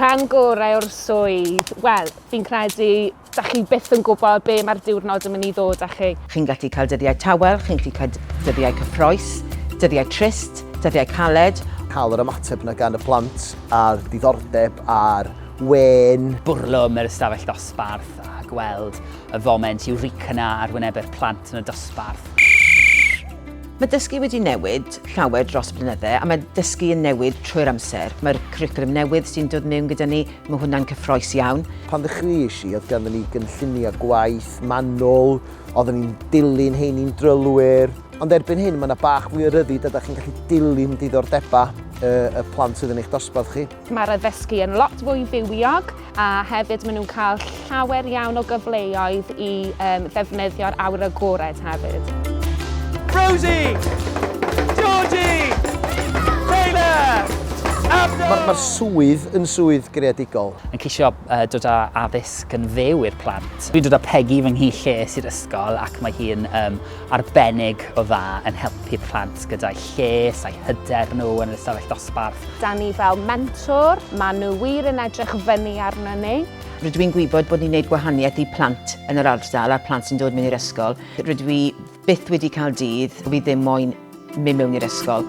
Rhan gorau o'r swydd? Wel, fi'n credu, da chi byth yn gwybod be mae'r diwrnod yn mynd i ddod â chi. Chi'n gallu cael dyddiau tawel, chi'n gallu cael dyddiau cyffroes, dyddiau trist, dyddiau caled. Cael yr ymateb yna gan y plant a'r diddordeb a'r wên. Bwrlwm yr ystafell ddosbarth a gweld y foment Eureka 'na ar wynebe'r plant yn y dosbarth. Mae dysgu wedi newid llawer dros y blynyddau a mae dysgu yn newid trwy'r amser. Mae'r cwricwlwm newydd sy'n dod mewn gyda ni, mae hwnna'n cyffroes iawn. Pan ddechreuais i, oedd ganddyn ni gynlluniau gwaith manwl, oedden ni'n dilyn hein i'n drylwyr, ond erbyn hyn mae yna bach mwy o ryddid a da chi'n gallu dilyn diddordebau y plant sydd yn eich dosbarth chi. Mae'r addysgu yn lot fwy fywiog a hefyd maen nhw'n cael llawer iawn o gyfleoedd i um, ddefnyddio'r awyr agored hefyd. Rosie! Georgie! Taylor! Mae'r ma swydd yn swydd greadigol. Yn ceisio uh, dod â addysg yn fyw i'r plant. Dwi'n dod â Peggy fy nghi lles i'r ysgol ac mae hi'n um, arbennig o dda yn helpu plant gyda'u lles a'u hyder nhw yn yr ystafell dosbarth. Da ni fel mentor, maen nhw wir yn edrych fyny arnon ni. Rydw i'n gwybod bod ni'n gwneud gwahaniaeth i plant yn yr ardal a'r plant sy'n dod mewn i'r ysgol. Rydw i byth wedi cael dydd fi ddim moyn mynd mewn i'r ysgol.